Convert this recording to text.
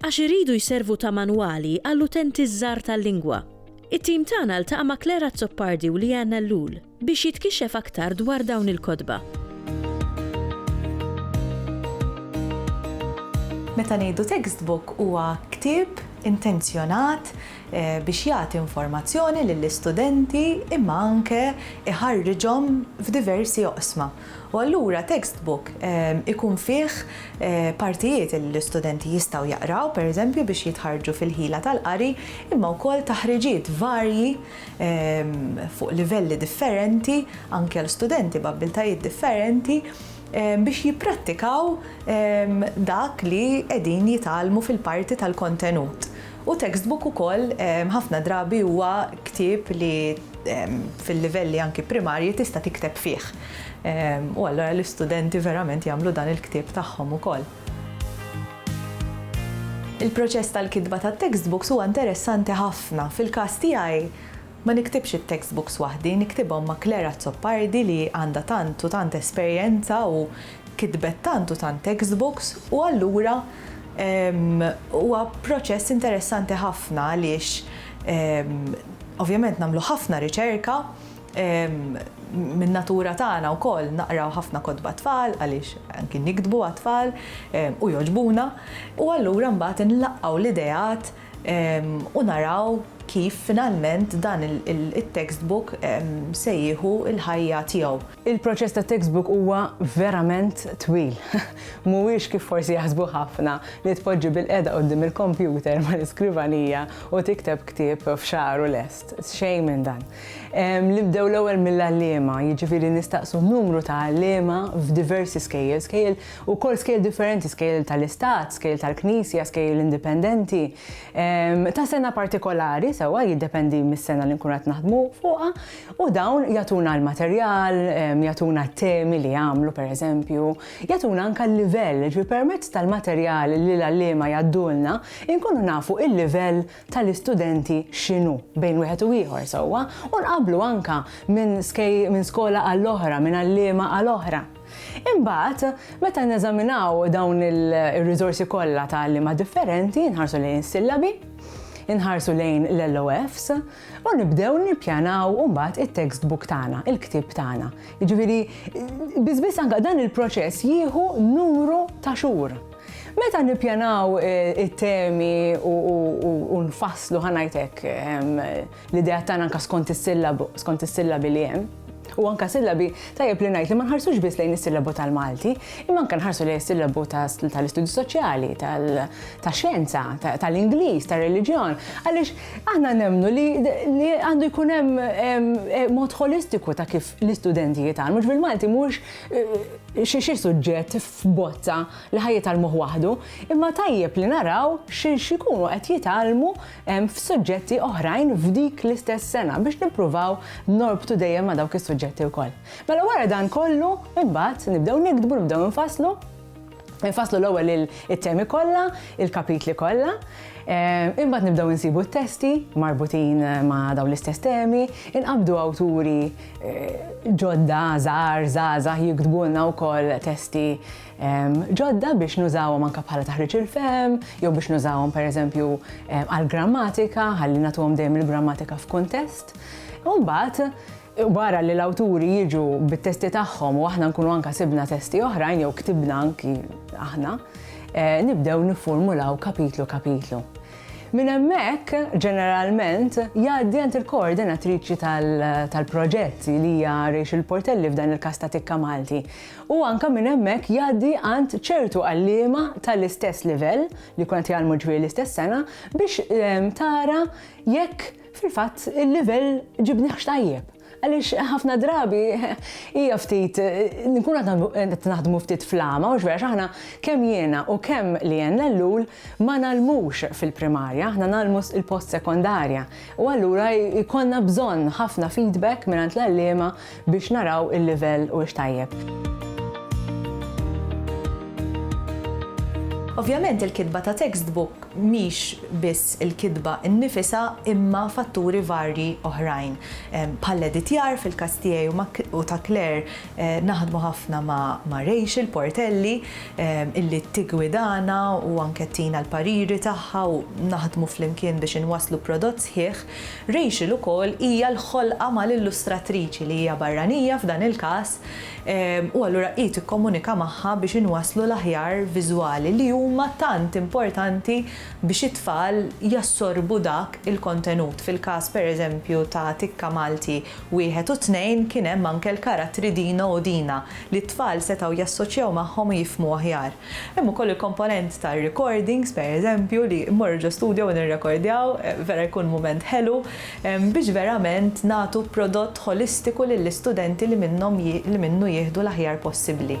għax iridu jservu ta' manwali għall-utenti ż-żgħar tal-lingwa. It-tim tagħna ltaqa' ma' Claire Azzopardi u Leanne Ellul biex jitkixxef aktar dwar dawn il-kotba. Meta ngħidu textbook huwa ktieb intenzjonat biex jagħti informazzjoni lill-istudenti imma anke jħarriġhom f'diversi oqsma. U allura textbook ikun fih partijiet li l-istudenti jistgħu jaqraw, pereżempju, biex jitħarrġu fil-ħila tal-qari, imma wkoll taħriġiet varji fuq livelli differenti, anke għal studenti b'abbiltajiet differenti, biex jipprattikaw dak li qegħdin jitgħallmu fil-parti tal-kontenut. U textbook ukoll ħafna drabi huwa ktieb li fil-livelli anki primarji tista' tikteb fih. U allura l-istudenti verament jagħmlu dan il-ktieb tagħhom ukoll. Il-proċess tal-kitba tat-textbooks huwa interessanti ħafna. Fil-każ tiegħi, Ma niktibx it-textbooks waħdi, niktibhom ma' Claire Azzopardi li għandha tant u tant esperjenza u kitbet tant u tant textbooks u allura huwa proċess interessanti ħafna għaliex ovvjament nagħmlu ħafna riċerka min-natura tagħna wkoll naqraw ħafna kotba għat-tfal għaliex anki niktbu għat-tfal u jogħġbuna u allura mbagħad inlaqqgħu l-ideat u naraw kif finalment dan it-textbook se jieħu l-ħajja tiegħu. Il-proċess tat-textbook huwa verament twil. Mhuwiex kif forsi jaħsbu ħafna li tpoġġi bilqiegħda quddiem il-kompjuter mal-iskrivanija u tikteb ktieb f'xahar u lest. Xejn minn dan. Nibdew l-ewwel mill-għalliema, jiġifieri nistaqsu numru ta' għalliema f'diversi skejjel, skejjel Ukoll skejjel differenti, skejjel tal-istat, skejjel tal-knisja, skejjel indipendenti, ta' sena partikolari, sewwa jiddependi mis-sena li nkunu qed naħdmu fuqha, u dawn jagħtuna l-materjal, jagħtuna t-temi li jagħmlu pereżempju, jagħtuna anke l-livell, jiġifieri permezz tal-materjal li l-għalliema jgħaddulna nkunu nafu l-livell tal-istudenti x'inhu bejn wieħed u ieħor sewwa u nqabblu anke minn skola għall-oħra, minn għalliema għal oħra. Imbagħad, meta neżaminaw dawn ir-riżorsi kollha ta' għalliema differenti, inħarsu lejn is-sillabi, inħarsu lejn l-LOFs u nibdew nippjanaw mbagħad it-textbook tagħna, il-ktieb tagħna. Jiġifieri biss biss anke dan il-proċess jieħu numru ta' xhur. Meta nippjanaw eh, it-temi u nfasslu ħanajtek ehm, L-idea tagħna anke skont is-sillabu, skont is-sillabi li hemm, u anka sillabi tajjeb li ngħid li ma nħarsux biss lejn is-sillabu tal-Malti, imma anka nħarsu lejn is-sillabu tal-istudju soċjali, tax-xjenza, tal-Ingliż, tar-reliġjon, għaliex aħna nemmnu li għandu jkun hemm eh, mod holistiku ta' kif l-istudenti jitgħallmu. Ġbil Malti mhux eh, xi xi suġġett f'bozza li ħajja tal-moħ waħdu, imma tajjeb li naraw xi xikunu qed jitgħallmu f'suġġetti oħrajn f'dik l-istess sena biex nippruvaw norbtu dejjem ma' dawk is-suġġetti wkoll. Mela wara dan kollu, imbagħad nibdew nikdbu, nibdew nfasslu, Nfasslu l-ewwel it-temi kollha, il-kapitli kollha, eh, imbagħad nibdew insibu t-testi marbutin eh, ma' dawn l-istess temi, inqabdu awturi eh, ġodda, żgħar, żgħażagħ jiktbulna wkoll testi ġodda biex nużawhom anke bħala taħriġ il-fehem, jew biex nużawhom pereżempju għall-grammatika, ħalli nagħtuhom dejjem il-grammatika f'kuntest. U mbagħad wara li l-awturi jiġu bit-testi tagħhom u aħna nkunu anke sibna testi oħrajn jew ktibna anki aħna, eh, nibdew niffurmulaw kapitlu kapitlu. Min hemmhekk ġeneralment jgħaddi għand il-koordinatriċi tal-proġett li hija Rachel Portelli f'dan il-każ ta' Tikka Malti. u anke minn hemmhekk jgħaddi għand ċertu għalliema tal-istess livell li jkun qed jgħallmu ġifieri l-istess sena biex ehm, tara jekk fil-fatt il-livell ġibniħx tajjeb. Għaliex ħafna drabi hija ftit nkun qed naħdmu ftit flama u x'vera aħna kemm jiena u kemm li jenna l-lul Ma ngħallmux fil-primarja, aħna ngħallmu il-post sekondarja u allura jkollna bżonn ħafna feedback mingħand l-għalliema biex naraw il-livell huwiex tajjeb. Ovvjament il-kitba ta' textbook mhix biss il-kitba nnifisha imma fatturi varji oħrajn, bħall-editjar fil-każ tiegħi u ta' Claire Naħdmu ħafna ma' Rachel Portelli illi tiggwidana u anke ttina l-pariri tagħha u naħdmu flimkien biex inwasslu prodott sħiħ. Rachel ukoll hija l-ħolqa mal-illustratriċi li hija barranija f'dan il-każ u allura hi tikkomunika magħha biex inwasslu l-aħjar viżwali li huma tant importanti biex it-tfal jassorbu dak il-kontenut fil-każ pereżempju ta' Tikka Malti Wieħed u tnejn kien hemm anke l-karattri Dino u Dina li t-tfal setgħu jassoċjaw magħhom u jifhmu aħjar. Hemm ukoll il-komponent tar-recordings, per eżempju, li mmorru ġo studio u nirrekordjaw, vera jkun mument ħelu, biex verament nagħtu prodott ħolistiku lill-istudenti li minnhom li minnu jieħdu l-aħjar possibbli.